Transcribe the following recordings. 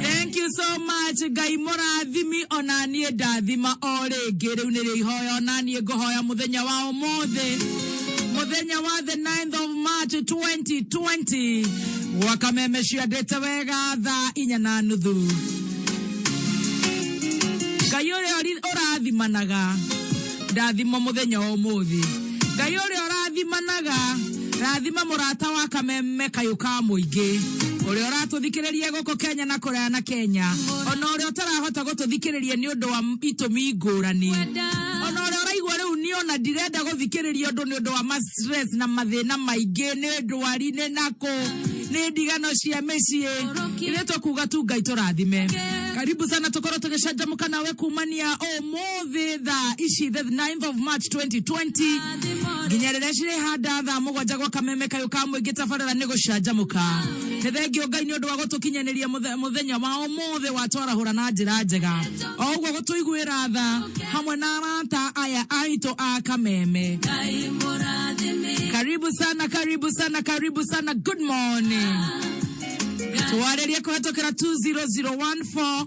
thank you so much ngai mũrathimi ona niĩ ndathima o rĩngĩ rĩu nĩrĩo ihoya ona niĩ ngũhoya mũthenya wa ũmũthĩ mũthenya wa the 9th of march 2020 wakameme ciandĩte wega thaa inya na nuthu ngai ũrĩa ũri- ũrathimanaga ndathimo mũthenya wa ũmũthĩ ngai ũrĩa ũrathimanaga rathima mũrata wa kameme kayũ ka mũingĩ ũrĩa ũratũthikĩrĩria gũkũ kenya na kũraya na kenya ona ũrĩa ũtarahota gũtũthikĩrĩria nĩ ũndũ wa itũmi ngũrani ona ũrĩa ũraigua rĩu nĩ ona ndirenda gũthikĩrĩria ũndũ nĩ ũndũ wa mastress na mathĩna maingĩ nĩ ndwari nĩ nakũ nĩ ndigano cia mĩciĩ ithe tũkuga tu ngai tũrathime karibu sana tũkorwo tũgĩcanjamũka nawe kumania ũmũthĩ thĩ thaa ici the 9th of march 2020 nginya rĩrĩa cirĩhanda thaa mũgwanja gwa kameme kayũ ka mũingĩ tabarĩra nĩ gũcanjamũka nĩ thengiũ ngai nĩ ũndũ wa gũtũkinyanĩria mũthe- mũthenya wa ũmũthĩ watwarahũra na njĩra njega o ũguo gũtũiguĩra tha hamwe na arata aya aitũ a kameme karibu sana karibu sana karibu sana good morning twarĩrie kũhetũkĩra 20014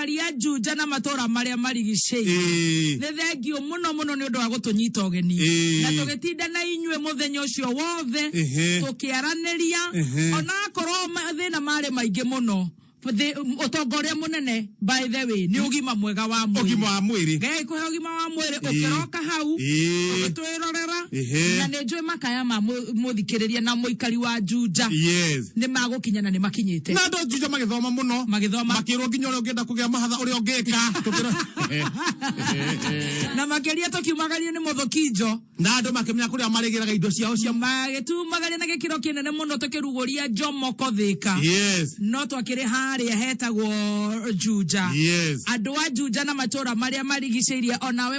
aikari a Juja na matũũra marĩa marigicĩirie Ĩĩ. nĩ thengiũ mũno mũno nĩ ũndũ wa gũtũnyita ũgeni Ĩĩ. na tũgĩtinda na inyuĩ mũthenya ũcio wothe Ĩhĩ. tũkĩaranĩria Ĩhĩ. onakorwo mathĩna marĩ maingĩ mũno thĩ- ũtonga ũrĩa mũnene by the way nĩ ũgima mwega wa mwĩrĩ ũgima wa mwĩrĩ Ngai kũhe ũgima wa mwĩrĩ ũkĩroka hau Ĩĩ. ũgĩtwĩra kwĩrorera Ehe. na nĩ njũĩ makaya ma mũ- mũthikĩrĩria na mũikari wa njunja yes nĩ magũkinya na nĩ makinyĩte na andå njunja magäthoma må no Magĩthoma. makä rwo nginya å rä a å ngä enda kå gä a mahatha å rä a å ngä ka na makĩria tũkiumagario nĩ mũthũkinjo na andå makä menya kå rä a marä gä raga indo ciao cia magĩtumagaria na gĩkĩro kĩnene mũno tũkĩrugũria njomoko thĩka yes no twakĩrĩ harĩa hetagwo njunja yes andå a njunja na matå ra marä a marigicä irie onawe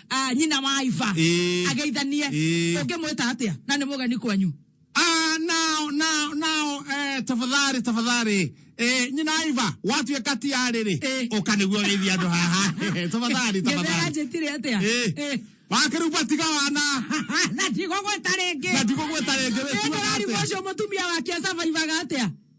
ah, nyina wa iva Ĩĩ. ageithanie Ĩĩ. ũngĩmwĩta atia na nĩ mũgeni kwanyu Ah, nao nao nao eh, tafadhali tafadhali eh, nyina aiva watuĩka tiarĩrĩ Eh. ũka nĩguo geithia andũ haha tafadhali gĩthera tafadhali njĩtire atia Eh. Eh. wakĩrupa tiga wana na ndigũgwĩta rĩngĩ na ndigũgwĩta rĩngĩ wĩtuaga nĩndĩrarigwo atĩa ũcio mũtumia wake savaivaga atia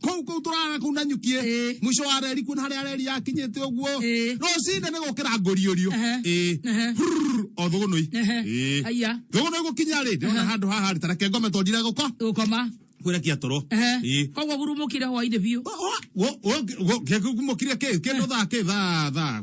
kuu kuu turara kuu na nyukie Ĩĩ. mwisho wa reri kuna haria reri yakinyite uguo Ĩĩ. rucine ni gukira nguriorio Ehe. Ĩĩ. Ehe. Brrr, o thugunui Ehe. Ĩĩ. Aya. thugunui gukinya ri ndona handu haha ri tareke ngome tondire guko Gukoma. kwirekia toro Ehe. Ĩĩ. Koguo gurumukire hwainĩ biũ. gukire kä ndå thaa kä thaa thaa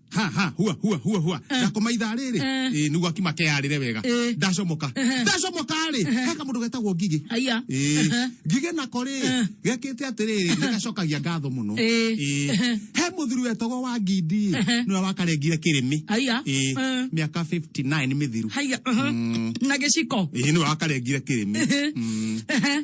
ha ha hua hua hua hua Eh. ndakoma ithaa rĩrĩ Eh. Ĩ, nĩguo akima keyarĩre wega Eh. ndacomoka Eh. ndacomoka rĩ he kamũndũ getagwo ngigĩ Aya. Eh, Eh. ngigĩ nako rĩ Eh. gekĩte atĩrĩrĩ nĩgacokagia ngatho mũno Eh. Eh, he mũthuri wetagwo wa ngindi Eh. nĩwe wakarengire kĩrĩmĩ Aya. Eh, Eh. mĩaka 59 mĩthiru haiya Mhm. na gĩciko Ĩ, nĩwe wakarengire kĩrĩmĩ Mhm.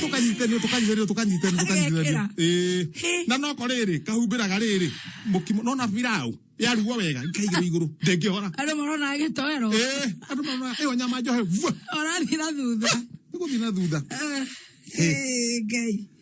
tukanyitanire tukanyitanire tukanyitanire tukanyitanire eh na no ko riri kahumbiraga riri mukimo no na pirau yarugwo wega ikaigirwo iguru ndingihora andå marona agätoero eh andu mama iyo nyama njohe vua orathira thutha niguthina thutha Eh, eh, ngai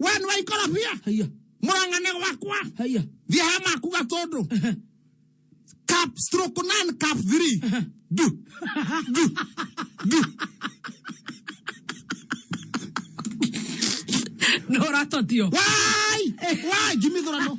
we nä waikorobia haya mũrang'ane gwakwa haya thiä he maku gatũndũ cap stroke nine cap three du du du no ratotio wai wai ngimithå rano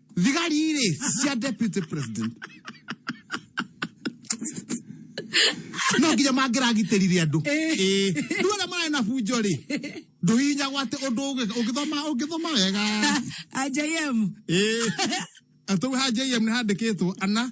thigari irĩ cia deputy president no nginya mangĩragitĩrire andũ Ĩĩ. rĩu arĩa mararĩ na bunjo rĩ ndũhihinyagwo atĩ ũndũ ũngĩ- ũngĩthoma ũngĩthoma wega ajm Ĩĩ. atau ha jm nĩ handĩkĩtwo ana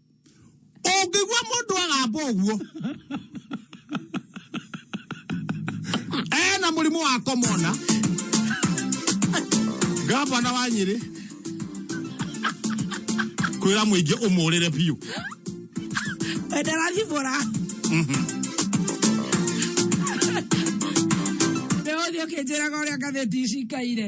ũngĩgua mũndũ agamba ũguo ena mũrimũ wa komona ngavana wa nyĩrĩ kwĩra mũingĩ ũmũrĩre biũ ndarathibũra nĩ ũthiĩ ũkĩnjĩraga ũrĩa ngathĩti ici ikaire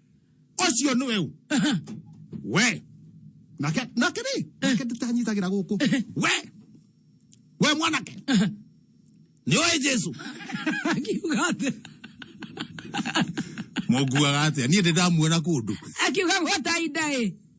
ũcio nĩ weu Aha. we nake nake rĩ nake ndĩtanyitagĩra gũkũ we we mwanake nĩ oĩ jesu akiuga atĩ mũnguaga atĩa niĩ ndĩ ndamuona kũndũ akiuga gwata inda ĩ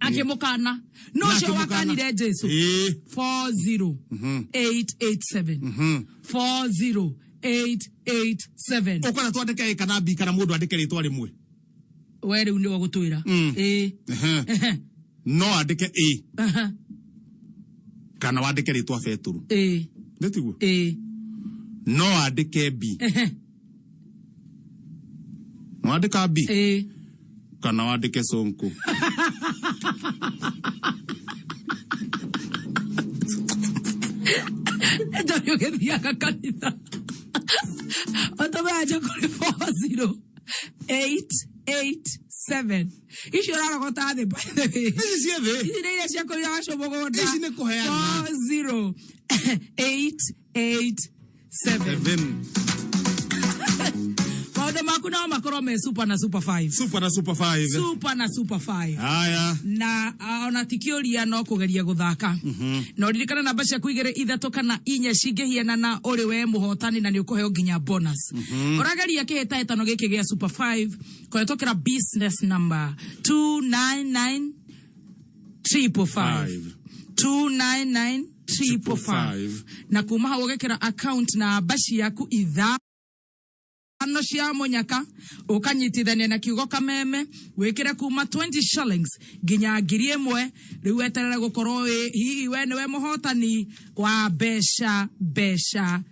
akĩmũkana no ũcio akĩmũkana. wakanire jesu Ĩĩ. 40887 40887 ũkona twandĩke ĩka na mbi kana mũndũ andĩke rĩtwa rĩmwe we rĩu nĩwe gũtwĩra Mm. Ĩĩ. Ehe. Ehe. no andĩke ĩ Aha. kana wandĩke rĩtwa betũrũ Ĩĩ. nĩtiguo Ĩĩ. no andĩke mbi Ehe. wandika bi ĩĩ kana wandike sonko ndarĩ ũgĩthiaga kanitha ũtũmanja kũrĩ 40887 icio ũrarogota thĩ by the way ici ciĩ thĩ ici nä iria ciakå ira wacå må gå nda Ici nĩ kũheana. 408 8 7 maundu maku no makorwo me super na super 5 super na super 5 super na super 5 haya na ah, ona ti kiuria no kugeria guthaka na uririkana namba ciaku igere ithatu kana inya cingĩhiana na ũrĩ we mũhotani na nĩ ũkũheo nginya bonus ũrageria kĩhĩtahĩtano gĩkĩ gĩa super 5 kũhetũkĩra business number 299 triple five two nine nine triple five na kuma hau ũgekĩra account namba ciaku itha no cia munyaka ukanyitithania na kiugo kameme wikire kuma 20 shillings nginya ngiri imwe riu weterere gukorwo wi hihi we niwe muhotani wa mbeca mbeca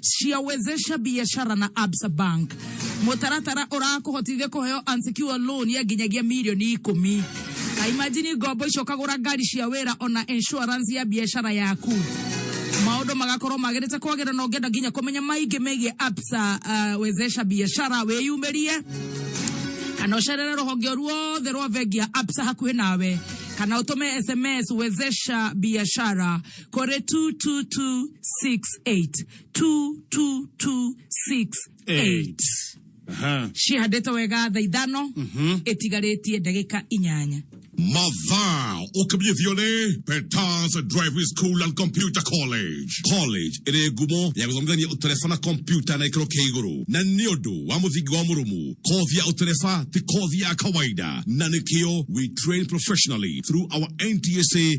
ciawezesha biashara na Absa Bank. Mũtaratara ũrakũhotithia kũheo unsecured loan ya nginyagia mirioni ikũmi. Na imagine ngombo icio ũkagũra ngari cia wĩra ona insurance ya biashara yaku maundu magakorwo magirite kwagira na ungenda nginya kumenya maingi megie Absa uh, wezesha biashara wiyumirie kana ucerere ruhonge o ruothe rwa bengi ya Absa hakuhi nawe kana utume sms wezesha biashara kore 22268 22268 Aha. cihandĩtwo wega tha ithano ĩtigarĩtie ndagĩka inyanya Mother, ukibyithione Peters Driving School and Computer College. College ĩrĩ ngumo ya gũthomithania ũtereba na kompyuta na gĩkĩro kĩa igũrũ na nĩ ũndũ wa mũthingi wa mũrũmu kothi ya ũtereba ti kothi ya kawaida na nĩkĩo we train professionally through our NTSA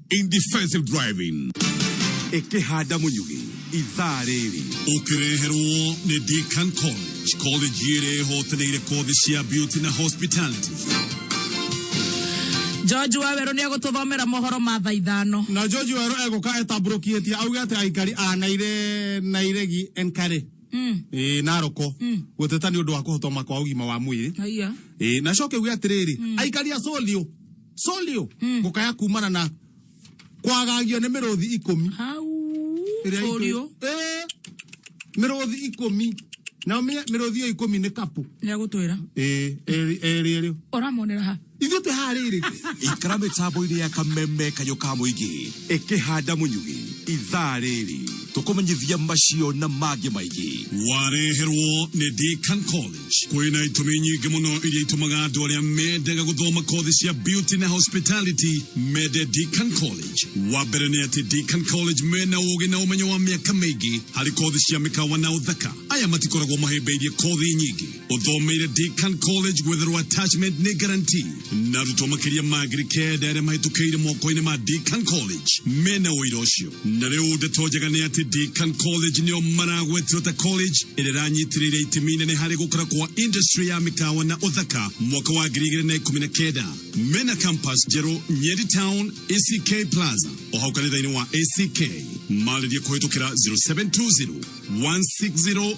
in defensive driving ekehanda munyugi ithaa rĩrĩ ũkĩreherwo nĩ Deakin College college ĩrĩa ĩhotanĩire kothi cia beauty na hospitality George Waweru nä egå thomera mohoro ma thaa ithano na George Waweru egũka etambũrũkĩtie auge atĩ aikari a Naire Nairegi Enkare mm. e, Naroko mm. gũteta nĩ ũndũ wa kũhotoma kwa ũgima wa mwĩrĩ e, na coke uge atĩrĩrĩ mm. aikari a Solio solio Mm. gukaya kumana na kwagagio nĩ mĩrũthi ikũmi Hau. ĩrĩa itũ- Ũrio. Eh, mĩrũthi ikũmi na ũmenye mĩrũthi ĩyo ikũmi nĩ kapũ Nĩ agũtwĩra. Eh, erĩ erĩ erĩ Ũramonera ha. ithuĩ twĩ haha rĩrĩ ikara mĩtambo-inĩ ya kameme kayũ ka mũingĩ ĩkĩhanda mũnyugĩ ithaa rĩrĩ tũkũmenyithia macio na mangĩ maingĩ wareherwo nĩ Deacon Collins Kwĩna itũmi nyingĩ mũno iria itũmaga andũ arĩa mendaga gũthoma kothi cia beauty na hospitality mende Deakin College. Wa mbere nĩ atĩ Deakin College mena ũgĩ na ũmenyo wa mĩaka mĩingĩ harĩ kothi cia mĩkawa na ũthaka. Aya matikoragwo mahĩmbĩirie kothi nyingĩ. Ũthomeire Deakin College gwetherwo attachment nĩ guarantee. na arutwo makĩria ma ngiri kenda arĩa mahĩtũkĩire moko-inĩ ma Deakin College mena ũira ũcio na rĩu ndeto njega nĩ atĩ Deakin College nĩo maragwetirwo ta college ĩrĩa ĩranyitĩrĩire itemi inene harĩ gũkũra kwa industry ya mĩkawa na ũthaka mwaka wa ngiri igĩrĩ na ikũmi na kenda mena campus njerũ Nyeri Town ACK Plaza o hau kanitha-inĩ wa ACK marĩrie kũhĩtũkĩra 0720 160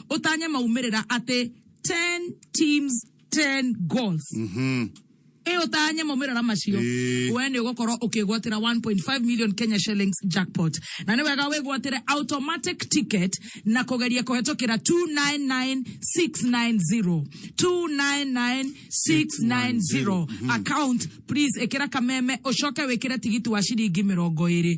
ũtanye maumĩrĩra atĩ 10 teams 10 goals ĩ ũtanye maumĩrĩra macio Ĩĩ. we nĩ ũgũkorwo ũkĩgwatĩra 1.5 million kenya shillings jackpot na nĩ wega wĩgwatĩre automatic ticket na kũgeria kũhetũkĩra 299690 299690 account please ĩkĩra kameme ũcoke wĩkĩre tigiti wa ciringi mĩrongo ĩrĩ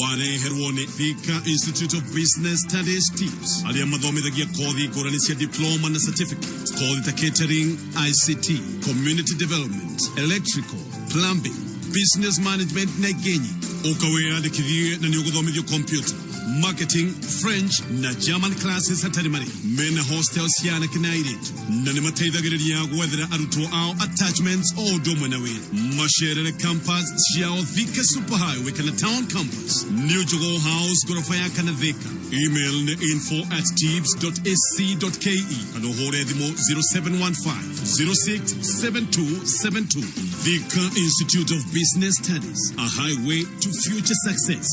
wareherwo nĩ Thika Institute of Business Studies TIBS arĩa mathomithagia kothi ngũrani cia diploma na certificate kothi ta catering ICT community development electrical plumbing business management na ingĩ nyingĩ ũka wĩyandĩkithie na nĩ ũgũthomithio kompyuta marketing french na german classes hatarĩ marĩhi mena hostel cia anake na airĩtu na nĩ mateithagĩrĩria gwethera arutwo ao attachments o ũndũ ũmwe na wĩra macerere campus ciao thika super highway kana town campus new jogoo house ngoroba ya kana thika email nĩ info at tips ac ke kana ũhũre thimũ 0715 067272 thika institute of business studies a highway to future success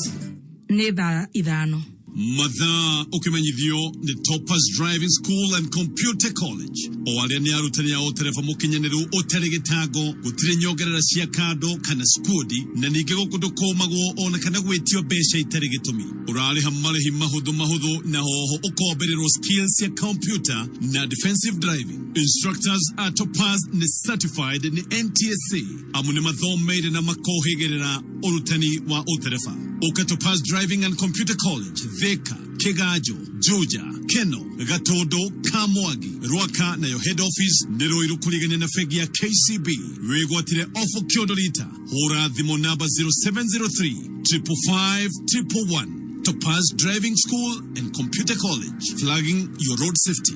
nĩ thaa ithano mathaa ũkĩmenyithio nĩ Topaz Driving School and Computer College o arĩa nĩ arutani a ũtereba mũkinyanĩru ũtarĩ gĩtango gũtirĩ nyongerera cia kando kana skundi na ningĩ gũkũ ndũkũmagwo ona kana gwĩtio mbeca itarĩ gĩtũmi ũrarĩha marĩhi mahũthũ mahũthũ na hoho ũkombererwo skills cia computer na defensive driving instructors a Topaz nĩ certified nĩ NTSA amu nĩ mathomeire na makohĩgĩrĩra ũrutani wa ũtereba Ũkatũ Pass Driving and Computer College Thika Kĩganjo Juja Keno Gatũndũ Kamwagi Rwaka nayo head office nĩ Rũirũ kũrigania na bengi ya KCB wĩgwatire ofo kĩondo rita hũra thimũ namba 0703 555 111 Topaz Driving School and Computer College flagging your road safety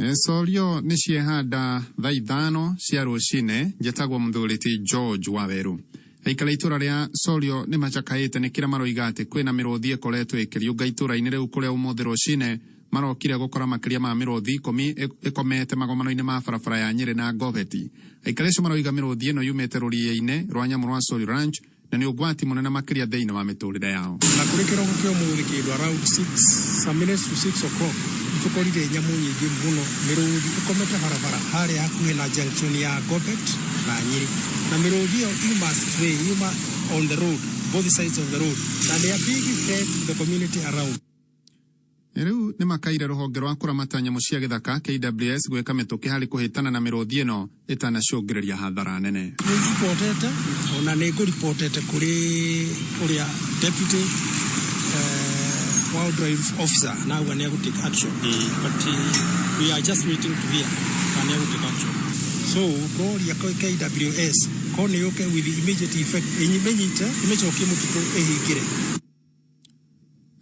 Nĩcorio nĩ ciehanda thaa ithano cia rũcinĩ njĩtagwo mũthuri ti George Waweru. Aikara itũra rĩa Corio nĩ macakaĩte nĩ kĩrĩa maroiga atĩ kwĩna mĩrũthi ĩkoretwo ĩkĩriũnga itũra-inĩ rĩu kũrĩa ũmũthĩ rũcinĩ marokire gũkora makĩria ma mĩrũthi ikũmi ĩkomete magomano-inĩ ma barabara ya Nyĩrĩ na Goveti. Aikari acio maroiga mĩrũthi ĩno yumĩte rũriĩ-inĩ rwa nyamũ rwa Corio Ranch na nĩ ũgwati mũnene makĩria thĩinĩ wa mĩtũrĩre yao. Na kũrĩ kĩroko kĩa ũmũthĩ kĩndũ around 6 some minutes to 6 o'clock tũkorire nyamũ nyingĩ mũno mĩrũthi ĩkomete barabara harĩa hakuhĩ na junction ya Gobet na Nyeri na mĩrũthi ĩyo yuma stray yuma on the road both sides of the road na they are being fed to the community around Rĩu nĩmakaire rũhonge rwa kũramata nyamũ cia gĩthaka, KWS, gwĩka mĩtũkĩ harĩ kũhĩtana na mĩrũthi ĩno ĩtanacũngĩrĩria hathara nene. Nĩ ndibotete ona nĩ ngũribotete kũrĩ ũrĩa deputy wildlife officer na auga nĩ egũ take action but we are just waiting to hear kana nĩ egũ take action. So ngoria KWS korwo nĩ yũke with immediate effect ĩmĩnyite ĩmĩcokie mũtitũ ĩhingĩre.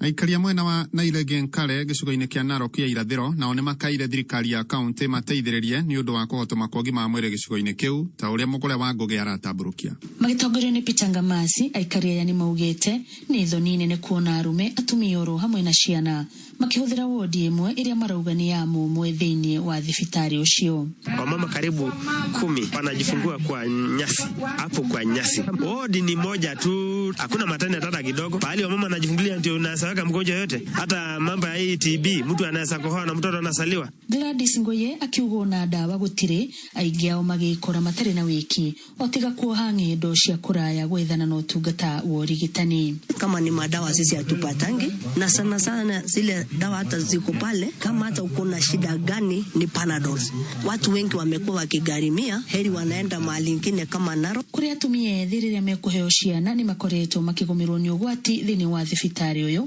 Aikaria mwena wa Naile Genkale gĩcigo-inĩ kĩa Narok ya irathĩro nao nĩ makaire thirikari ya kaũntĩ mateithĩrĩrie nĩ ũndũ wa kũhotoma kwa ũgima wa mwĩrĩ gĩcigo-inĩ kĩu ta ũrĩa Mũgũre wa Ngũgĩ aratambũrũkia. Magĩtongorio nĩ Peter Ngamasi, aikari aya nĩ maugĩte nĩ thoni nene kuona arũme, atumia oro hamwe na ciana, Makĩhũthĩra wondi ĩmwe ĩrĩa marauga nĩ ya mũmwe thĩinĩ wa thibitarĩ ũcio. Wamama karibu kumi wanajifungua kwa nyasi hapo kwa nyasi. Wodi ni moja tu, hakuna matani hata kidogo. Pahali wamama wanajifungulia ndio unasaweka mgonjwa yote, hata mambo ya hii TB, mtu anaweza kohoa na mtoto anasaliwa. Gladys Ngoye akiuga ona ndawa gũtirĩ, aingĩ ao magĩkora matarĩ na wĩki. O tiga kuoha ng'endo cia kũraya gwethana na ũtungata wa ũrigitani. kama ni madawa sisi hatupatangi, na sana sana zile dawa hata ziko pale, kama hata uko na shida gani ni Panadol. Watu wengi wamekuwa wakigharimia, heri wanaenda mahali ingine kama Narok. Kũrĩ atumia ethĩ rĩrĩa mekũheo ciana nĩ makoretwo makĩgũmĩrwo nĩ ũgwati thĩinĩ wa thibitarĩ ũyũ.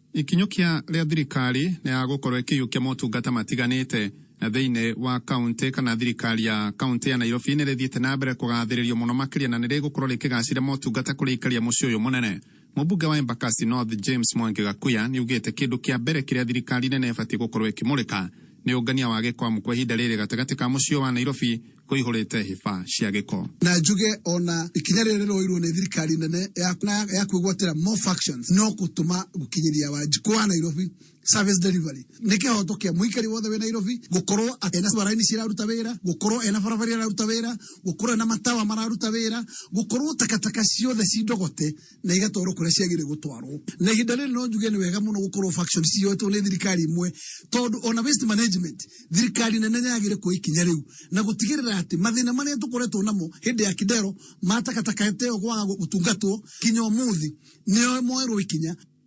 Ikinyũkia rĩa thirikari nĩ ya gũkorwo ĩkĩiyũkia motungata matiganĩte na thĩinĩ wa kauntĩ kana thirikari ya kauntĩ ya Nairobi nĩ rĩthiĩte na mbere kũgathĩrĩrio mũno makĩria na nĩ rĩgũkorwo rĩkĩgacĩria motungata kũrĩ aikari a mũciĩ ũyũ mũnene. Mũmbunge wa Embakasi North James Mwangi Gakuya nĩ ugĩte kĩndũ kĩa mbere kĩrĩa thirikari nene ĩbatiĩ gũkorwo ĩkĩmũrĩka nĩ ũngania wa gĩko amũkwo ihinda rĩrĩ gatagatĩ ka mũciĩ ũyũ wa Nairobi kũihũrĩte hĩba cia gĩko. Na njuge ona ikinya rĩrĩa rĩroirwo nĩ thirikari nene ya, na ya kwĩgwatĩra more factions no gũtũma gũkinyĩria wanjikũ wa nairobi service delivery nĩ kĩhoto kĩa mũikari wothe wĩ nairobi gũkorwo atĩ ena baraini ciraruta wĩra gũkorwo ena barabara iraruta wĩra gũkorwo ena matawa mararuta wĩra gũkorwo takataka ciothe cindogote na igatwarwo kũrĩa ciagĩrĩire gũtwarwo na ihinda rĩrĩ no njuge nĩ wega mũno gũkorwo factions ciyoetwo nĩ thirikari imwe tondũ ona waste management thirikari nene nĩ yagĩrĩire kuoya ikinya rĩu na gũtigĩrĩra atĩ mathĩna marĩa tũkoretwo namo hĩndĩ ya kidero ma takataka ĩyo kwaga gũtungatwo kinya ũmũthĩ nĩ moerwo ikinya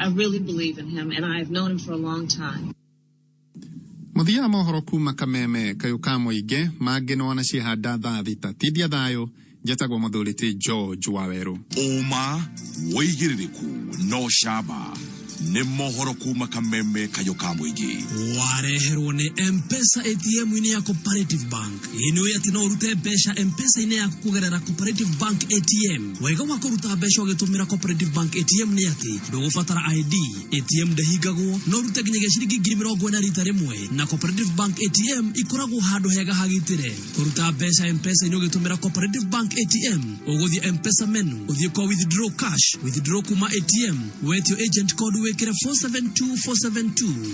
I really believe in him, and I have known him for a long time. Muthia mohoro kuma kameme kayo kamo ige mage no anashi hada tha thita tidia thayo njĩtagwo mũthũrĩtĩ george wawerũ ũma wĩigĩrĩrĩku no caba nĩ mohoro kuma kameme kayũ ka mũingĩ wareherwo nĩ mpesa atm-inĩ ya cooperative bank ĩĩ nĩ ũĩ atĩ no ũrute mbeca mpesa-inĩ yaku kũgerera cooperative bank atm wega wa kũruta mbeca ũgĩtũmĩra cooperative bank atm nĩ atĩ ndũgũbatara id atm ndĩhingagwo no ũrute nginyagia ciringi ngiri mĩrongo ĩna rita rĩmwe na cooperative bank atm ikoragwo handũ hega hagitĩre kũruta mbeca mpesa-inĩ ũgĩtũmĩra cooperative bank atm ũgũthiĩ mpesa menu ũthiĩ kwa withdraw cash withdraw kuma atm wetio agent code wĩkĩre 472 472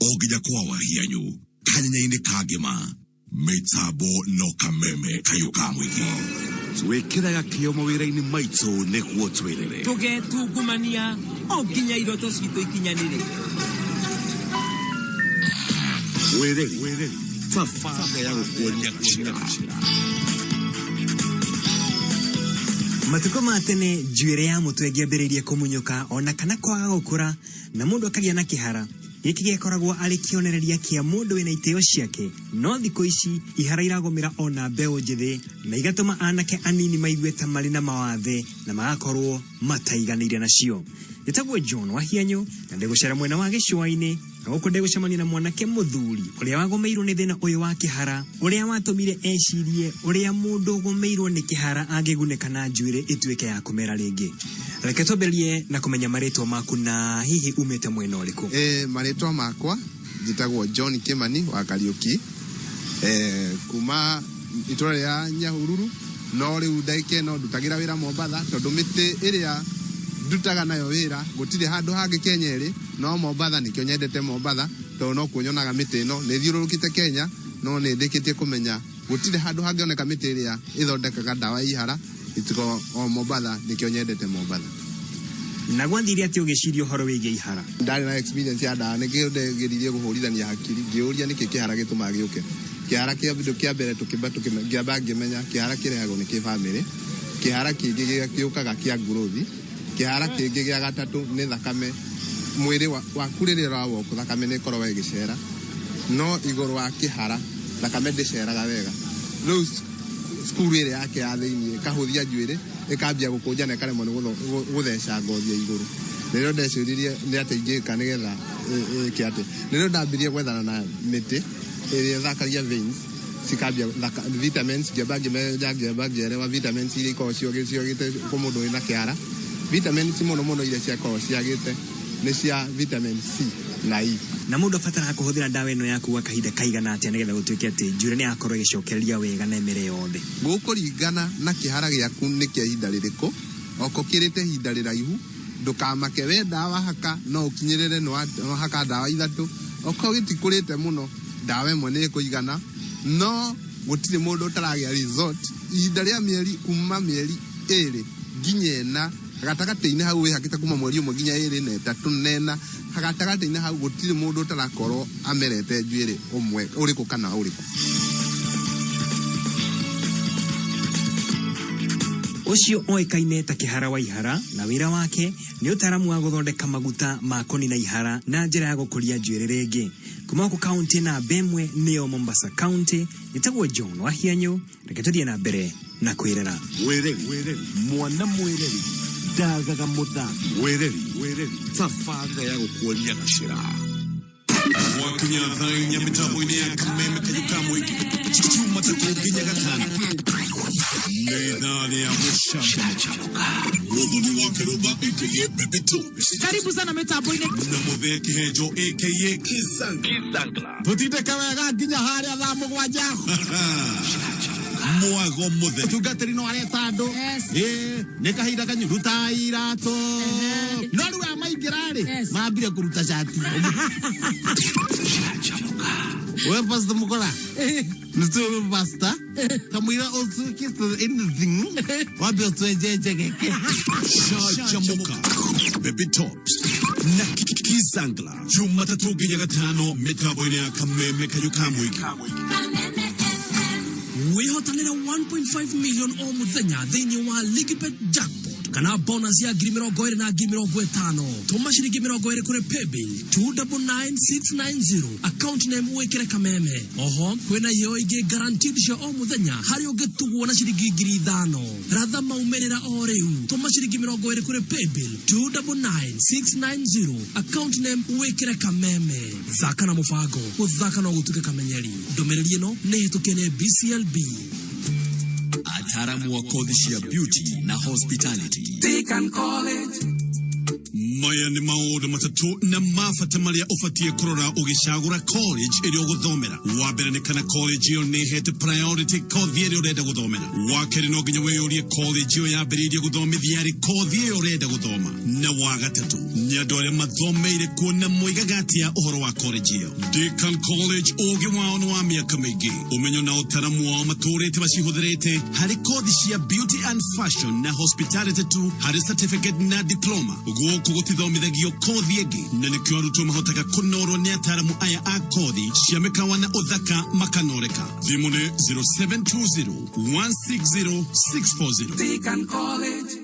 o nginya kwa wahianyu kanyanya-inĩ ka ngĩma mĩtambo no kameme kayũ ka mũingĩ twĩkĩraga kĩo mawĩra-inĩ maitũ nĩguo twĩrĩre tũgetungumania o nginya iroto citũ ikinyanĩre wĩrĩri thabarĩ ya gũkuonia njĩra Matukũ ma tene njuĩrĩ ya mũtwe ngĩambĩrĩirie kũmunyũka ona kana kwaga gũkũra na mũndũ akagĩa na kĩhara gĩkĩ gĩkoragwo arĩ kĩonereria kĩa mũndũ wĩna itĩo ciake no thikũ ici ihara iragũmĩra ona mbeũ njĩthĩ na igatũma anake anini maigue ta marĩ na mawathe na magakorwo mataiganĩire nacio njĩtagwo john wahianyo na ndĩgũcera mwena wa gĩcũa-inĩ na gũkũ ndĩgũcemania na mwanake mũthuri ũrĩa wagũmĩirwo nĩ thĩna ũyũ wa kĩhara ũrĩa watũmire ecirie ũrĩa mũndũ ũgũmĩirwo nĩ kĩhara angĩgunĩka na njuĩrĩ ĩtuĩke ya kũmera rĩngĩ reke twambĩrĩrie na kũmenya marĩtwa maku na hihi umĩte mwena ũrĩkũ e, marĩtwa makwa njĩtagwo john kimani wa kariũki e, kuma itũra rĩa nyahururu no rĩu ndagĩka ĩno ndutagĩra wĩra mombatha tondũ mĩtĩ ĩrĩa ndutaga nayo wĩra gũtirĩ handũ hangĩ kenya ĩrĩ no mombatha nĩkĩo nyendete mombatha tondũ no kuo nyonaga mĩtĩ ĩno nĩ thiũrũrũkĩte kenya no nĩ ndĩkĩtie kũmenya gũtirĩ handũ hangĩoneka mĩtĩ ĩrĩa ĩthondekaga ndawa ya ihara Gĩtiko o Mombatha, nĩkĩo nyendete Mombatha. Na gwathire atĩa ũgĩciria ũhoro wĩgiĩ ihara? Ndarĩ na experience ya ndawa, nĩkĩo ndageririe kũhũrithania hakiri ngĩyũria nĩkĩ kĩhara gĩtũmaga gĩũke. Kĩhara kĩa kĩndũ kĩa mbere tũkĩmba tũkĩme- ngĩamba ngĩmenya kĩhara kĩrehagwo nĩ kĩbamĩrĩ, kĩhara kĩngĩ gĩa- gĩũkaga kĩa ngurothi, kĩhara kĩngĩ gĩa gatatũ nĩ thakame. Mwĩrĩ wa- waku rĩrĩa ũra walk thakame nĩ ĩkoragwo ĩgĩcera, no igũrũ wa kĩhara thakame ndĩceraga wega. Rĩu cukuru ĩrĩa yake ya thĩinĩ ĩkahũthia njuĩrĩ ĩkambia gũkũnja na ĩkaremwo nĩ gũtheca ngothi ya igũrũ nĩrĩo ndecũririe nĩ atĩa ingĩka nĩgetha ĩke atĩ nĩrĩo ndambirie gwethana na mĩtĩ ĩrĩa ĩthakagia veins cikambia vitamins ngĩamba ngĩmenya ngĩamba ngĩerewa vitamins iria ikoragwo ciagĩte kũ mũndũ wĩna kĩara vitamins mũno mũno iria ciakoragwo ciagĩte nĩ cia vitamin C na E. Na mũndũ abataraga kũhũthĩra ndawa ĩno yaku gwa kahinda kaigana atĩa nĩgetha gũtuĩke atĩ njuĩrĩ nĩ yakorwo ĩgĩcokereria wega na ĩmere yothe? Gũkũringana na kĩhara gĩaku nĩ kĩa ihinda rĩrĩkũ, oko kĩrĩte ihinda rĩraihu, ndũkamake we ndawa wahaka no ũkinyĩrĩre nĩ wahaka ndawa ithatũ, oko gĩtikũrĩte mũno ndawa ĩmwe nĩ ĩkũigana, no gũtirĩ mũndũ ũtaragĩa result ihinda rĩa mĩeri kuma mĩeri ĩrĩ nginya ĩna gatagatĩ-inĩ hau wĩhakĩte kuma mweri ũmwe nginya ĩrĩ na ĩtatũ na ĩna gatagatĩ-inĩ hau gũtirĩ mũndũ ũtarakorwo amerete njuĩrĩ ũmwe ũrĩkũ kana ũrĩkũ ũcio oĩkaine ta kĩhara wa ihara na wĩra wake nĩ ũtaaramu wa gũthondeka maguta ma kũnina ihara na njĩra ya gũkũria njuĩrĩ rĩngĩ kuma gũkũ kaunti namba ĩmwe nĩyo mombasa kaunti ĩtagwo john wahianyũ reke tå thiä na mbere na kwä rera Wĩreri, mwana mwĩreri ndagaga mũthambia wĩreri tabarĩra ya gũkuonia gacĩra gwakinya thaa inya mĩtambo-inĩ ya kameme kanyũka mũingĩ cuma tatũ nginya gatano nĩ thaa rĩa gũcanjamũka mũthuri wa kĩrũmba ĩkĩgĩ bebito karibu sana mitambo-inĩ na mũthee kĩhenjo ĩkĩgĩ kisang tũtindĩke wega nginya harĩa thaa mũgwanja mwago mũtheri tungatĩri no areta andũ Yes. Ĩ, nĩ kahinda kanyu ruta iratũ no rĩu aya maingĩra-rĩ Yes. mambire kũruta cati we pasta mũkora nĩtũĩ pasta kamwĩra ũtukĩte anything wambe ũtwenjenje geke cacamuka baby tops na kizangla Juma tatu ginya gatano mitambo ine ya kameme kayo kamwiki wihotanira 1.5 million o muthenya thiini wa ligibet jackpot kana bonus ya ngiri mirongo iri na ngiri mirongo itano tuma ciringi mirongo iri kuri paybill 299690 account name wikire kameme oho kwina iyo ingi guaranteed cia o muthenya hari ungitugwo na ciringi ngiri ithano ratha maumĩrĩra o rĩu tũma ciringi mĩrongo ĩrĩ kũrĩ paybill 299690 account name wĩkĩre kameme thaka na mũbango gũthaka no gũtuĩke kamenyeri ndũmĩrĩri ĩno nĩ hĩtũkie nĩ bclb ataaramu wa kothi cia beauty na hospitality Deacon College maya nĩ maũndũ matatũ na ma bata marĩa ũbatiĩ kũrora ũgĩcagũra college ĩrĩa ũgũthomera wa mbere nĩ kana college ĩyo nĩ hete priority kothi ĩrĩa ũrenda gũthomera wa kerĩ no nginya wĩyũrie college ĩyo yambĩrĩirie gũthomithia rĩ kothi ĩyo ũrenda gũthoma na wa gatatũ nĩ andũ arĩa mathomeire kuo na moigaga atĩa ũhoro wa college ĩyo Deakin College ũũgĩ wao nĩ wa mĩaka mĩingĩ ũmenyo na ũtaramu wao matũũrĩte macihũthĩrĩte harĩ kothi cia beauty and fashion na hospitality tu harĩ certificate na diploma gũkũ gũtithomithagio kothi ĩngĩ na nĩkĩo arutwo mahotaga kũnorwo nĩ ataramu aya a kothi cia mĩkawa na ũthaka makanoreka thimũ nĩ 0720 160 640 Deakin College.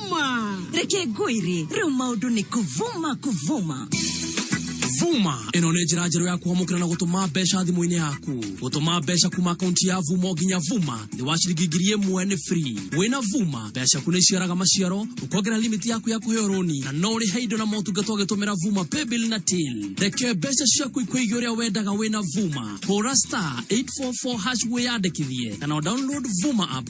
vuma reke ngwĩre rĩu maũndũ nĩ kũvuma kũvuma vuma ĩno nĩ njĩra njerũ ya kwamũkĩra na gũtũma mbeca thimũ-inĩ yaku gũtũma mbeca kuma akaunti ya vuma o nginya vuma nĩ wa ciringi ngiri ĩmwe nĩ free wĩna vuma mbeca ciaku nĩ iciaraga maciaro ũkongerera limiti yaku ya kũheo rũni na no ũrĩhe indo na motungata ũgĩtũmĩra vuma paybill na till reke mbeca ciaku ikũigia ũrĩa wendaga wĩna vuma hũra star 844 hash wĩyandĩkithie kana download vuma app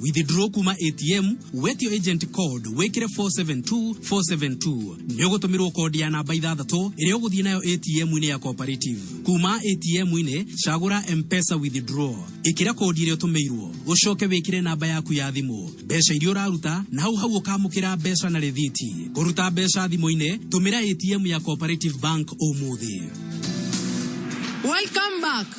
Withdraw kuma ATM, wetio agent code, wĩkĩre 472 472. Nĩ ũgũtũmĩrwo code ya namba ithathatũ ĩrĩa ũgũthiĩ nayo ATM-inĩ ya Cooperative. Kuma ATM-inĩ, cagũra M-Pesa Withdraw. Ĩkĩra code ĩrĩa ũtũmĩirwo, ũcoke wĩkĩre namba yaku ya thimũ, mbeca iria ũraruta, na hau hau ũkamũkĩra mbeca na rĩthiti. Kũruta mbeca thimũ-inĩ, tũmĩra ATM ya Cooperative Bank ũmũthĩ. Welcome back.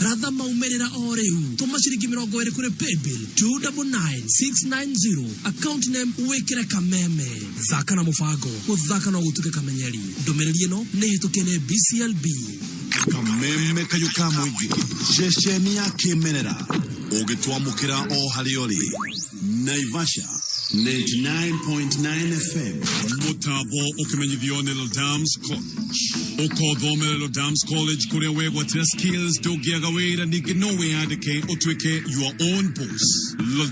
Ratha maumĩrĩra o rĩu. Tũma ciringi mĩrongo ĩrĩ kũrĩ paybill 299690 account name wĩkĩre kameme. Thaka na mũbango, gũthaka no gũtuĩke kamenyeri. Ndũmĩrĩri ĩno nĩ hĩtũkie nĩ BCLB. kameme kayo ka mũingĩ ceceni ya kĩmerera ũgĩtwamũkĩra o harĩa ũrĩ naivasha 99.9 fm mũtambo ũkĩmenyithio nĩ Ladams Court ũkothomera Dams College kũrĩa wegwatĩra skills ndũngĩaga wĩra ningĩ no wĩyandĩke ũtuĩke your own boss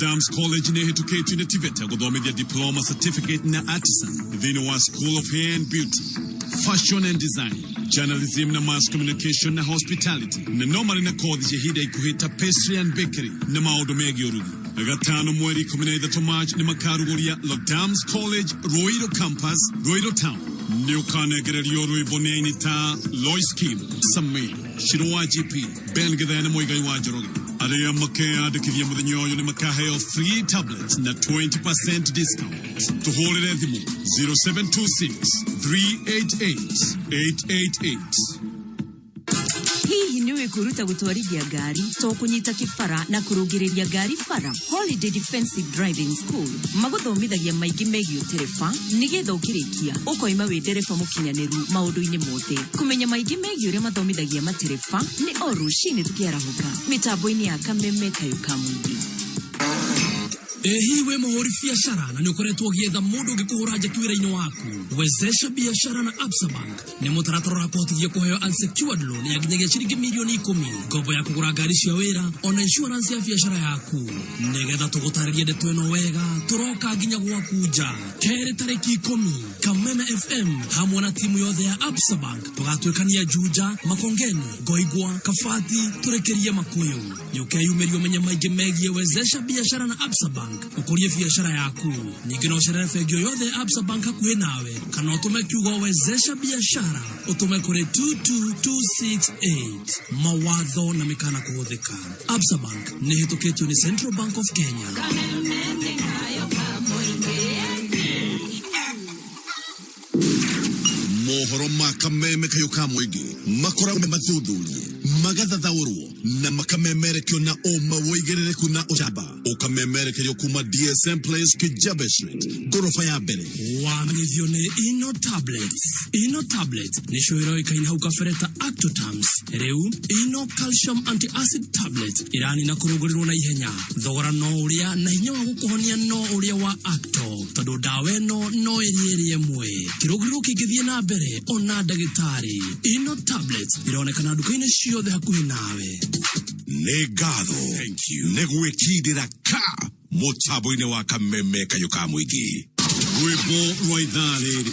Dams College nĩ ĩhĩtũkĩtio nĩ TVETA gũthomithia diploma certificate na artisan thĩinĩ wa School of Hair and Beauty Fashion and Design journalism na mass communication na hospitality na no marĩ na kothi cia ihinda ikuhĩ ta pastry and bakery na maũndũ megiĩ ũrugi gatano mweri ikũmi na ithatũ march nĩ makarugũria Dams College Ruiru campus Ruiru town Nĩũkanegererio rwĩmbo nĩ aini ta Lois Kim, Samir, Shiro wa GP, Ben Githene Mũigai wa Njoroge. Arĩa makeyandĩkithia mũthenya ũyũ nĩ makaheo free tablets na 20% discount. Tũhũrĩre thimũ 0726 388 888. hihi nĩ ũĩ kwĩruta gũtwarithia ngari to kũnyita kĩbara na kũrũngĩrĩria ngari bara holiday defensive driving school magũthomithagia maingĩ megiĩ ũtereba nĩgetha ũkĩrĩkia ũkoima wĩ ndereba mũkinyanĩru maũndũ-inĩ mothe kũmenya maingĩ megiĩ ũrĩa mathomithagia matereba nĩ o rũcinĩ tũkĩarahũka mĩtambo-inĩ ya kameme kayo ka mũingĩ ĩ hihi wĩ mũhũri biacara na nĩ ũkoretwo ũgĩetha mũndũ ũngĩkũhũra njeki wĩra-inĩ waku wezesha biashara na absabank nĩ mũtaratara ũrakũhotithia kũheo unsecured loan ya nginyagia ciringi mirioni ikũmi ngombo ya kũgũra ngari cia wĩra ona insurance ya biacara yaku nĩgetha tũgũtarĩrie ndeto ĩno wega tũroka nginya gwaku nja kerĩ tarĩki ikũmi kameme fm hamwe na timu yothe ya absa bank tũgatuĩkania juja makongeni ngoigwa kabati tũrĩkĩrie makũyũ nĩ ũkeyumĩria ũmenye maingĩ megiĩ wezesha biashara na absa bank ũkũrie biashara yaku ningĩ no ũcerere bengi o yothe ya absa bank hakuhĩ nawe kana ũtũme kiugo wezesha biashara ũtũme kũrĩ 22268 mawatho na mĩkana kũhũthĩka absa bank nĩ ĩhĩtũkĩtio nĩ central bank of kenya Kameme nĩ kayo ka mũingĩ mohoro ma kameme kayo ka mũingĩ makoragwo me mathuthurie magathathaũrwo na makamemerekio na ũma woigĩrĩrĩku na ũcamba ũkamemerekerio kuma dsm place kijabe street ngoroba ya mbere wamenyithio nĩ ino tablets ino tablets nĩcio ĩroĩkaine hau kabere ta actotams rĩu ino calcium antiacid tablets ĩranina kũrũngũrĩrwo na ihenya thogora no ũrĩa na hinya wa gũkũhonia no ũrĩa wa acto tondũ ndawa ĩno no ĩrĩe ĩrĩe mwe kĩrũgĩrĩro kĩngĩthiĩ na mbere ona ndagĩtarĩ ino tablet ĩronekana nduka-inĩ ciothe hakuhĩ nawe nĩ ngatho nĩ gwĩkindĩra ka mũtambo-inĩ wa kameme kayũ ka mũingĩ rwĩmbo rwa ithaa rĩrĩ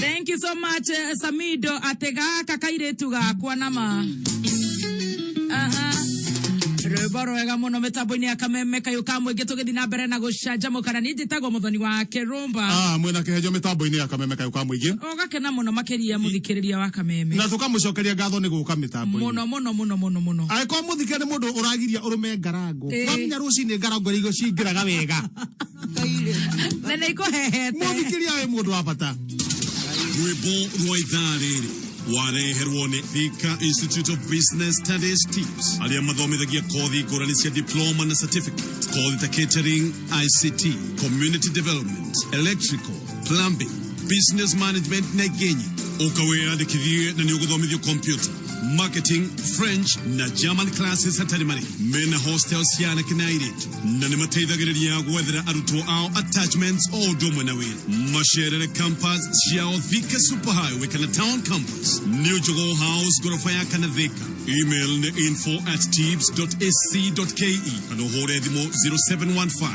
Thank you so much eh, Samido atega kakairetu gakwa nama Aha. rwĩmbo rwega mũno mĩtambo-inĩ ya kameme kayũ ka mũingĩ tũgĩthiĩ na mbere na gũcanjamũkana nĩ njĩtagwo mũthoni wa kĩrũmba Ah, mwĩna kĩhenjo mĩtambo-inĩ ya kameme kayũ ka mũingĩ ũgakena mũno makĩria mũthikĩrĩria wa kameme na tũkamũcokeria ngatho nĩ gũka mĩtambo mũno mũno mũno mũno mũno angĩkorwo mũthikĩrĩria nĩ mũndũ ũragiria ũrũme ngarango Ĩĩ. wamenya rũcinĩ ngarango iria cingĩraga wega na nĩ ikũhehete mũthikĩria wĩ mũndũ wa bata rwĩmbo rwa ithaa rĩrĩ wareherwo nĩ Thika Institute of Business Studies TIBS arĩa mathomithagia kothi ngũrani cia diploma na certificate kothi ta catering ICT community development electrical plumbing business management na genyi ukaweyandikithie na niuguthomithio computer marketing french na german classes hatarĩ marĩhi mena hostel cia anake na airĩtu na nĩ mateithagĩrĩria gwethera arutwo ao attachments o ũndũ ũmwe na wĩra macerere campus ciao thika super highway kana town campus new jogo house ngoroba ya kana thika email nĩ info at tibs ac ke kana ũhũre thimũ 0715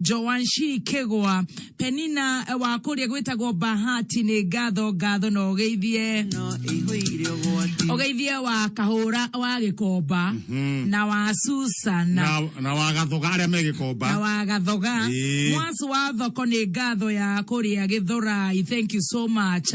Joashi kĩgwa. Penina wa kũrĩa gwĩtagwo Bahati nĩ ngatho ngatho na ũgeithie no ihũire ũgwati ũgeithie wa kahũra wa gĩkomba na wa Susana na na wagathoga arĩa na megĩkomba wa gathoga Ĩĩ. mwasu wa thoko nĩ ngatho ya kũrĩa gĩthurai thank you so much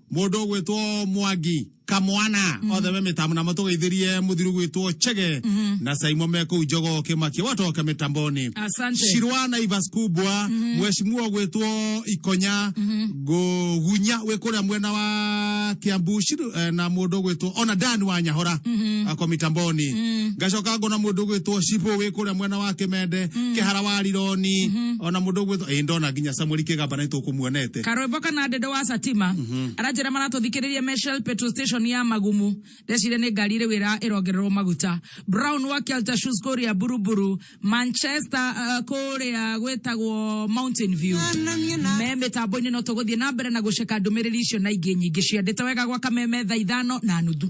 Mũndũ ũgwĩtwo Mwangi Kamwana othe me mĩtambo namo tũgeithĩrie mũthiru gwĩtwo Chege na Saimo me kũu Njogo Kĩmakia watoke mĩtamboni Asante. Shirwa na Ivas Kubwa mheshimiwa gwĩtwo Ikonya Ngugunya wĩ kũrĩa mwena wa Kiambu Shiru- eh, na mũndũ gwĩtwo ona Dan wa Nyahora ako mĩtamboni ngacoka ngona mũndũ gwĩtwo Shibu wĩ kũrĩa mwena wa Kĩmende Kĩhara wa Rironi ona mũndũ gwĩtwo ĩ ndona nginya Samuel Kĩgamba na nĩtũkũmuonete Nairobi. Karwimbo kana Ndĩndũ wa Satima aranjĩra maratũthikĩrĩria me Shell petrol station ya Magumu. Ndeciria nĩ ngari ĩrĩ wĩra ĩrongererwo maguta. Brown wa Kelta Shoes kũrĩa Buruburu, Manchester uh, kũrĩa gwĩtagwo Mountain View. Me mĩtambo-inĩ no tũgũthiĩ na mbere na gũceka ndũmĩrĩri icio na ingĩ nyingĩ ciandĩte wega gwa kameme thaa ithano na nuthu.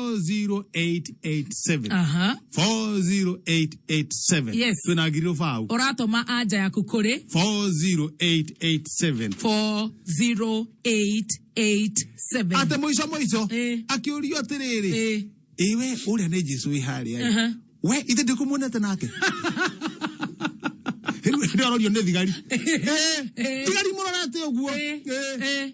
40887 aha 40887 Yes. twina ngiriro bau ũratũma anja yaku kũrĩ 40887 40887 ate muico muico Eh. akiurio atiriri Eh, iwe uria ni jesu wi haria Aha. we ithe ndikumonete nake riu ndio arorio ni thigari Eh, Eh. thigari murorete uguo Eh, Eh. eh,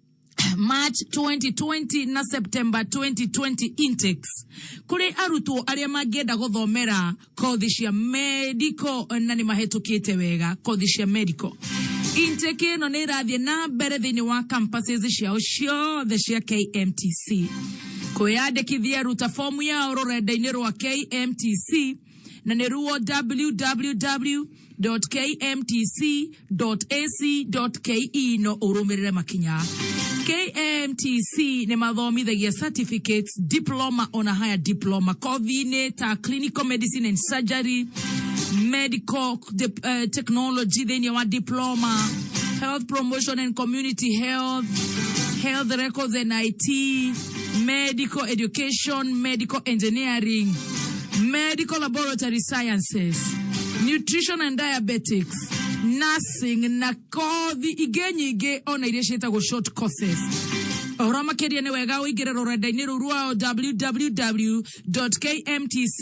March 2020 na September 2020 intakes kuri arutwo aria mangienda guthomera kothi cia medical na ni mahetukite wega kothi cia medical intake ino ni irathie na mbere thiini wa campuses ciao ciothe cia KMTC kwiyandikithia ruta fomu yao rurenda-ini rwa KMTC na nĩ ruo www.kmtc.ac.ke no ũrũmĩrĩre makinya KMTC nĩ mathomithagia certificates, diploma ona higher diploma kothi-inĩ ta clinical medicine and surgery, medical de, uh, technology thĩinĩ wa diploma, health promotion and community health, health records and IT, medical education, medical engineering, medical laboratory sciences, nutrition and diabetics, nursing na kothi ingĩ nyingĩ ona iria ciĩtagwo short courses ũhoro makĩria nĩ wega ũingĩre rũrenda-inĩ rũu rwao www kmtc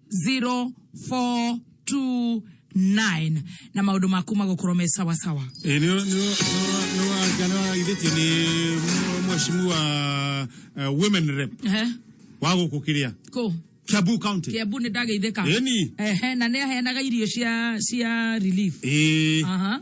0429 na maundu maku magukorwo me sawa sawa Ĩ, nĩ nĩ- nĩ- nĩ- nĩ waraithĩtio nĩ mwe- mwecimu wa eh, women rep Ehe, wa gũkũ kĩrĩa kũ Kiambu County kiambu nĩ ndageithĩka Ĩni. Ehe, na nĩ aheanaga irio cia cia relief Ĩ. Aha.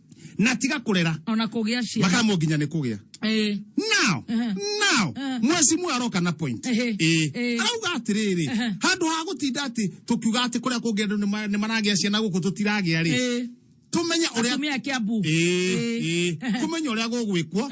na tiga kurera ona kugia ciana makamwo nginya ni kugia eh now uh-huh. now uh-huh. mweci mwe aroka na point eh eh arauga atiriri uh-huh. handu ha gutinda ati tukiuga ati kuria kungi andu ni maragia ciana guku tutiragia ri tumenye uria atumia kiambu eh eh kumenya uria gugwikwo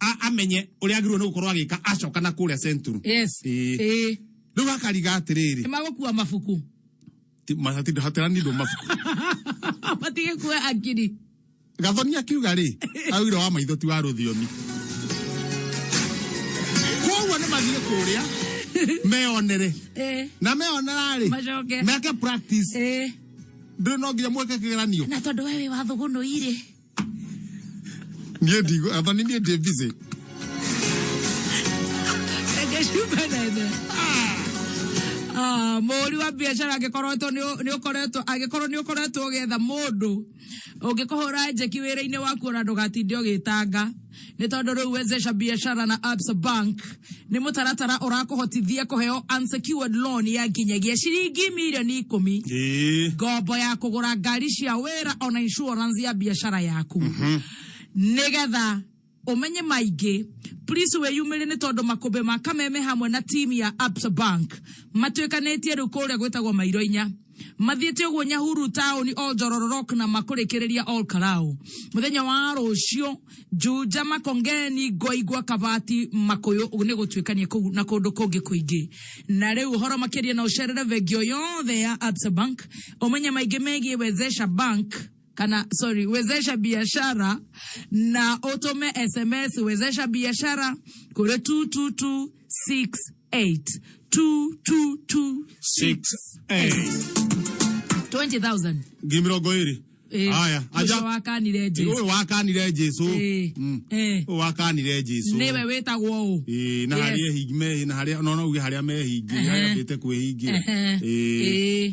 a- amenye uria agirwo ni gukorwo agika acoka na kuria central yes Ĩĩ. Ĩĩ. riu akariga atiriri magũkua mabuku hatirani ndu mabuku matige kuwa akiri gathoni akiuga ri augire wa maitho ti wa ruthiomi koguo ni mathie kuria meonere Eh, na meonera ri Macoke. meke practice eh. ndä no nginya mweke kä geranio na tondå we wä wathå gå nå irä Niye diyor? Adam niye diyor bizi? mũhũri wa biacara angĩkorwo to nĩ ũkoretwo angĩkorwo nĩ ũkoretwo ũgĩetha mũndũ ũngĩkũhũra njeki wĩra-inĩ waku ona ndũgatinde ũgĩtanga nĩ tondũ rĩu wezesha biashara na absa bank nĩ mũtaratara ũrakũhotithia kũheo unsecured loan ya nginyagia ciringi mirioni ikũmi Ĩĩ. ngombo ya kũgũra ngari cia wĩra ona insurance ya biashara yaku nĩgetha ũmenye maingĩ please wĩyumĩrie nĩ tondũ makũmbĩ ma kameme hamwe na timu ya absa bank matuĩkanĩtie rĩu kũrĩa gwĩtagwo mairo inya Mathiĩte ũguo Nyahuru taũni all Njororo Rock na makũrĩkĩrĩria all Karaũ. Mũthenya wa rũciũ Njunja Makongeni Ngoigwa Kabati Makũyũ nĩ gũtuĩkania kũu na kũndũ kũngĩ kũingĩ. Na rĩu ũhoro makĩria na ũcerere bengi o yothe ya Absa Bank ũmenye maingĩ megiĩ Wezesha Bank kana sorry, wezesha biashara na utume SMS wezesha biashara kuri 22268 22268 20000 ngi mirongo iri Eh, haya aja ũcio wakanire Jesu. uyu wakanire jesu Eh, Mm. eh. Ũyũ wakanire jesu nĩwe wĩtagwo ũ Ĩĩ, na Yes. harĩa hingi mehi na harĩa no no uge harĩa mehingi Ehe. harĩa ndĩte kwĩhingira Ehe. Ĩĩ. Ĩĩ.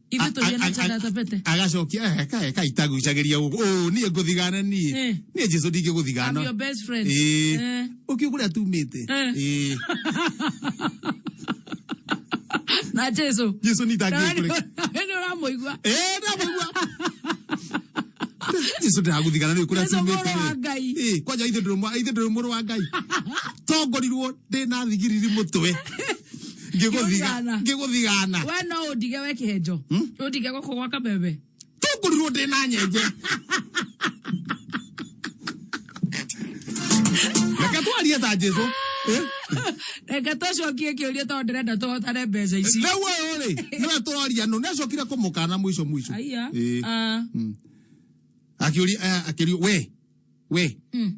Ithuĩ tũthiĩ na njata tapete. agacokia eka eka itagucagĩria gũkũ ũũ niĩ ngũthigana niĩ Eh. niĩ jesu I'm your ndingĩgũthigana best friend. Eh. Eh. ũkiu kũrĩa tumĩte Eh. Eh. Na Jesu. jesu nĩ itangĩkũreka Nĩ ũramũigua. Eh, ndamũigua. jesu ndagũthigana nĩ kũrĩa Jesu mũrũ wa tumĩte Ngai. Eh, kwanja ithe ndũrĩ mwa- ithe ndũrĩ mũrũ wa ngai tongorirwo ndĩ na thigiriri mũtwe Ngĩgũthigana. ngĩgũthigana we no ũndige we kĩhenjo ũndige gũkũ gwa kameme tũngũrirwo ndĩ na nyenje reke twarie ta jesu Eh? reke tũcokie kĩũria tondũ ndĩrenda tũhotane mbeca ici rĩu ũyũ rĩ nĩwe twaria nũ nĩacokire kũmũkana mũico mũico aiya Ĩĩ. Ah. akĩũria eh, akĩũria we we Mm.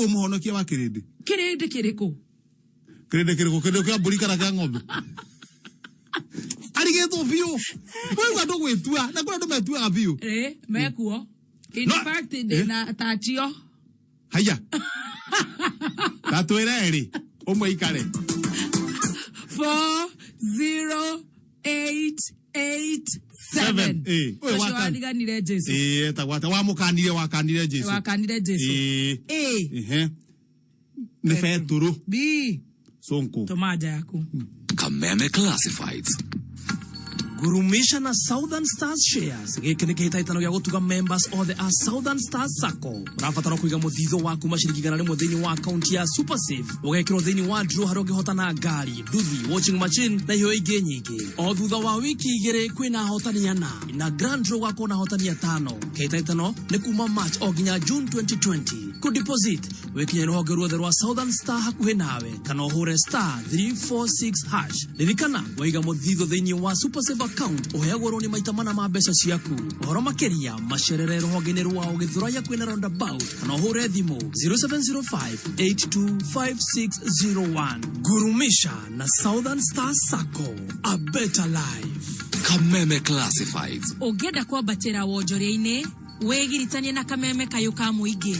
Ũ mũhonokia wa kĩrĩndĩ? kĩrĩndĩ kĩrĩkũ Kĩrĩndĩ kĩrĩkũ? Kĩrĩndĩ kĩa mbũri kana kĩa ng'ombe? Arigĩtwo biũ. Wĩigua andũ gwĩtua. Na kũrĩ andũ metuaga biũ. Eh, mekuo in No, fact eh. ndĩna tatio Haiya. Na twĩre erĩ. Ũmwe ikare. 4 0 eight eight seven Eh, we ũcio wakan- wariganire jesu Eh, etagwo atĩa wamũkanire wakanire jesu wakanire jesu Eh, a ehe. nĩ betũrũ b sonko tũma nja yaku Kameme Classifieds. gurumisha na southern stars shares gĩkĩ nĩ kĩhĩtahĩtano gĩa gũtuga members othe a southern stars sacco ũrabatara kũiga mũthithũ waku maciringi igana rĩmwe thĩinĩ wa akaunti ya supersafe ũgekĩrwo thĩinĩ wa draw harĩa ũngĩhotana ngari nduthi watching machine na iheo ingĩ nyingĩ o thutha wa wiki igĩrĩ kwĩna ahotani ana na grand row gwakorwo na ahotani atano kĩhĩtahĩtano nĩ kuma march o nginya june 2020 ku deposit wĩkinya rũhonge ruothe rwa southern star hakuhĩ nawe kana ũhũre star 346 hash ririkana waiga mũthithũ thĩinĩ wa super save account ũheagwo rũni maita mana ma mbeca ciaku ũhoro makĩria macerere rũhonge-inĩ rwao gĩthũrai hakuhĩ na roundabout kana ũhũre thimũ 0705825601 gurumisha na southern star sacco a better life kameme classifieds ũngĩenda kwambatĩra wonjoria-inĩ wĩgiritanie na kameme kayũ ka mũingĩ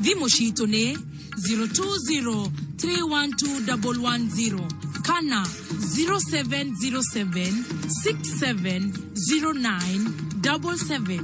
thimũ citũ nĩ 020312110 kana 0707670977